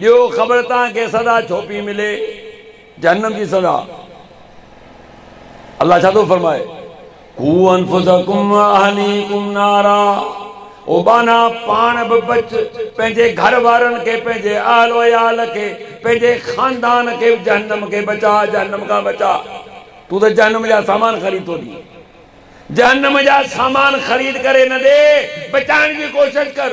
ڏيو خبر تان کي سزا ڇو پي ملي جهنم جي سزا الله ڇا ٿو فرمائي قو انفسکم واهليکم نارا او ٻانها پاڻ به بچ پنهنجي گهر وارن کي پنهنجي اهل و عيال کي پنهنجي خاندان کي به جهنم کي بچاء جهنم کان بچاء تون ته جهنم جا سامان خريد ٿو ڏي جهنم جا سامان خريد ڪري نه ڏي بچائڻ جي ڪوشش ڪر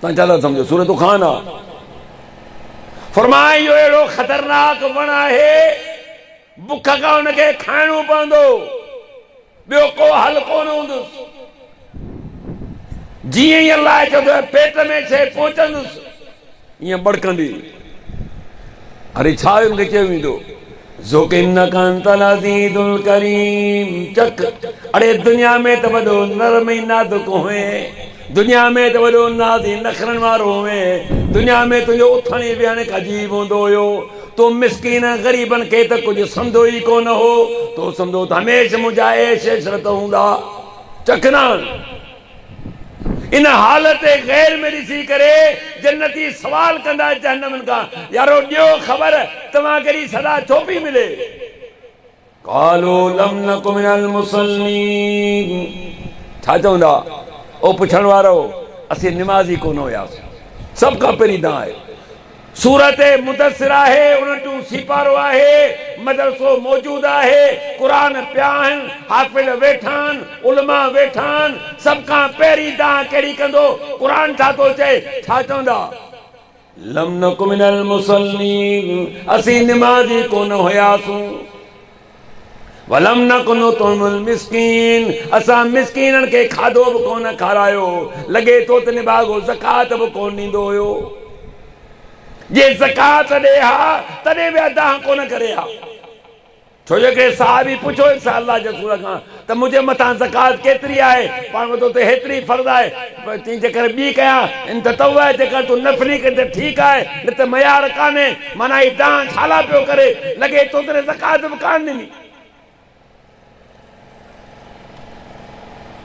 تان ڇا ٿا سمجهو سورة دخان آ فرمائي اهو اهڙو خطرناڪ وڻ آهي بک کان ان کي کائڻو پوندو ٻيو ڪو حل ڪونه هوندس جيئن ئي الله چوندو پيٽ ۾ شيء پهچندس ائين ٻڙڪندي اري ڇا هن کي چيو ويندو ذوق انڪ انت العزيز الڪريم چڪ اڙي دنيا ۾ ته وڏو نرم ۽ نازڪ هوئين دنيا ۾ ته وڏو ناز ۽ نخرن وارو هوئين دنيا ۾ تنهنجو اٿڻ ۽ ويهڻ هڪ عجيب هوندو هيو تو مسڪين ۽ غريبن کي ته ڪجهه سمندو ئي ڪو نه هو تو سمندو ته هميشه منهنجا عيش عشرت هوندا چڪ ناڻ ان حال تي غير ۾ ڏسي ڪري جنتي سوال ڪندا جهنمين کان، يارو ڏيو خبر توهان کي اهڙي سزا ڇو پئي ملي؟ قالوا لم نڪ من المصلين ڇا چوندا او پڇڻ وارؤ اسين نمازي ڪونه هياسون سڀ کان پهرين تان آهي. سورت مدثر آهي، اڻٽون سيپارو آهي، مدرسو موجود آهي، قرآن پيا آهن، حافظ ويٺا آهن، علماء ويٺا آهن، سڀ کان پهرين دانهن ڪهڙي ڪندو؟ قرآن ڇا ٿو چئي؟ ڇا چوندا؟ لم نڪ من المصلين، اسين نمازي ڪونه هياسون. ولم نڪ نطعم المسڪين اسان مسڪينن کي کاڌو به ڪونه کارايو لڳي ٿو ته نباغو زڪوات به ڪونه ڏيندو هيو جي زڪوات ڏي ها تڏهن به ادا ڪونه ڪري ها ڇو جو هڪڙي صحابي پڇيو هيس الله جي رسول کان ته منهنجي مٿان زڪوات ڪيتري آهي؟ پاڻ وڌو ته هيتري ئي فرض آهي. چيائين، جيڪر ٻي ڪيان، ان تطوع آهي، جيڪر تون نفلي ڪرين ته ٺيڪ آهي، نه ته معيار ڪانهي، معنيٰ هي دانهن ڇالاء پيو ڪري، لڳي ٿو ته هن زڪوات به ڪانه ڏني.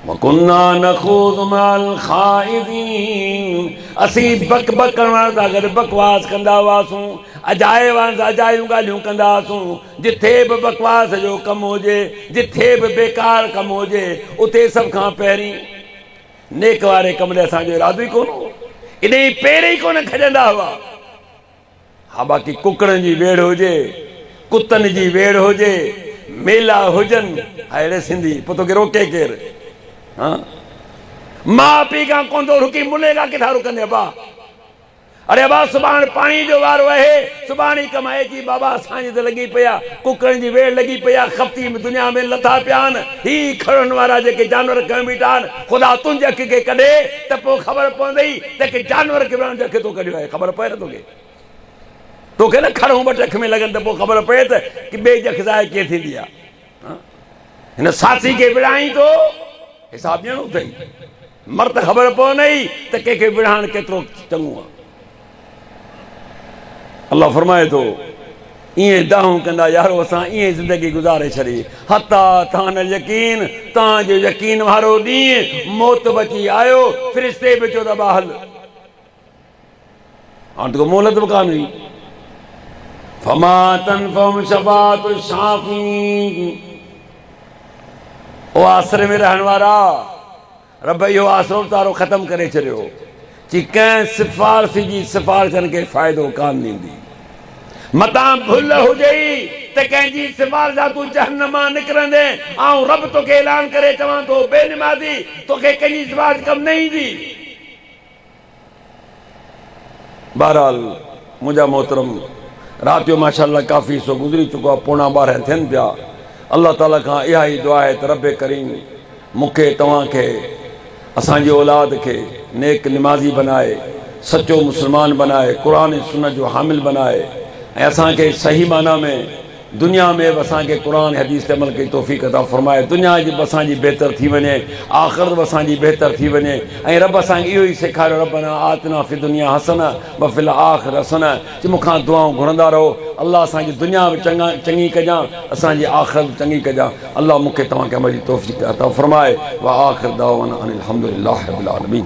وڪنا نخوض مع الخائضين اسين بڪ بڪڻ وارن سان گڏ بڪواس ڪندا هئاسون، اجايي وارن سان اجايون ڳالهيون ڪندا هئاسون، جتي به بڪواس جو ڪم هجي، جتي به بيڪار ڪم هجي، اتي سڀ کان پهرين نيڪ واري ڪم ڏي اسان جو ارادو ئي ڪونه هو. اڏي ئي پير ئي ڪونه کڄندا هئا. ها باقي ڪڪڙن جي ويڙهه هجي، ڪتن جي ويڙهه هجي، ميلا هجن، ها اهڙي سنڌي پوء توکي روڪي ڪير؟ ها ماء پيء کان ڪونه ٿو رڪي ملي کان ڪٿان رڪندين ابا؟ اڙي ابا سڀاڻ پاڻي جو وارو اهي سڀاڻ ئي ڪم اهي جي بابا اسان جي ته لڳي پئي آ ڪڪڙن جي ويڙ لڳي پئي آ خفتي م دنيا ۾ لٿا پيا آن هي کڙن وارا جيڪي جانور کنئن بيٺا آن خدا تنهنجي اک کي ڪڍي ته پو خبر پوندئي ته ڪي جانور کي ويڙهڻ جو اک تو ڪڍيو آهي خبر پوي نه توکي توکي نه کڙون ٻٽ اک ۾ لڳن ته پو خبر پوي ته ڪي ٻئي جي اک ظاهر ڪيئن ٿيندي آ هن ساٿي کي ويڙهائين تو حساب ڏيڻو اٿئي. مر ته خبر پوندي ئي ته ڪنهن کي وڙهائڻ ڪيترو چڱو آهي. الله فرمائي ٿو، ائين دانهون ڪندا يارو اسان ائين زندگي گذاري ڇڏي حتيٰ تان اليقين تان جو يقين وارو ڏينهن موت به اچي آيو فرشتي به چيو ته ابا هل. هاڻ ته ڪو مهلت به ڪانه هئي. فما تنفعهم شفاعت الشافعين او آسري ۾ رهڻ وارا! رب اهو آسرو به تارو ختم ڪري ڇڏيو چي ڪنهن سفارشي جي سفارش ڪن کي فائدو ڪانه ڏيندي. متان ڀل هجئي ته ڪنهن جي سفارش سان تون جهنم مان نڪرندين، آئون رب توکي اعلان ڪري چوان ٿو، بي نمازي، توکي ڪنهن جي سفارش ڪم نه ايندي. بهرحال منهنجا محترم رات جو ماشاء الله ڪافي حصو گذري چڪو آهي پوڻا ٻارهن ٿين پيا الله تعالي کان اها ئي دعا آهي ته رب ڪريم مون کي توهان کي اسان جي اولاد کي نيڪ نمازي بنائي سچو مسلمان بنائي قرآن ۽ سنت جو حامل بنائي ۽ اسان کي صحيح معنيٰ ۾ دنيا ۾ به اسان کي قرآن حديث تي عمل ڪري توفيق عطا فرمائي دنيا جي به اسان جي بهتر ٿي وڃي آخرت به اسان جي بهتر ٿي وڃي ۽ رب اسان کي اهو ئي سيکاريو ربنا آتنا في الدنيا حسنه وفي الاخره حسنه چي مون کان دعائون گهرندا رهو الله اسان جي دنيا به چڱي ڪجان اسان جي آخرت به چڱي ڪجان الله مون کي توهان کي عمل جي توفيق عطا فرمائي واخر دعوانا ان الحمدلله رب العالمين.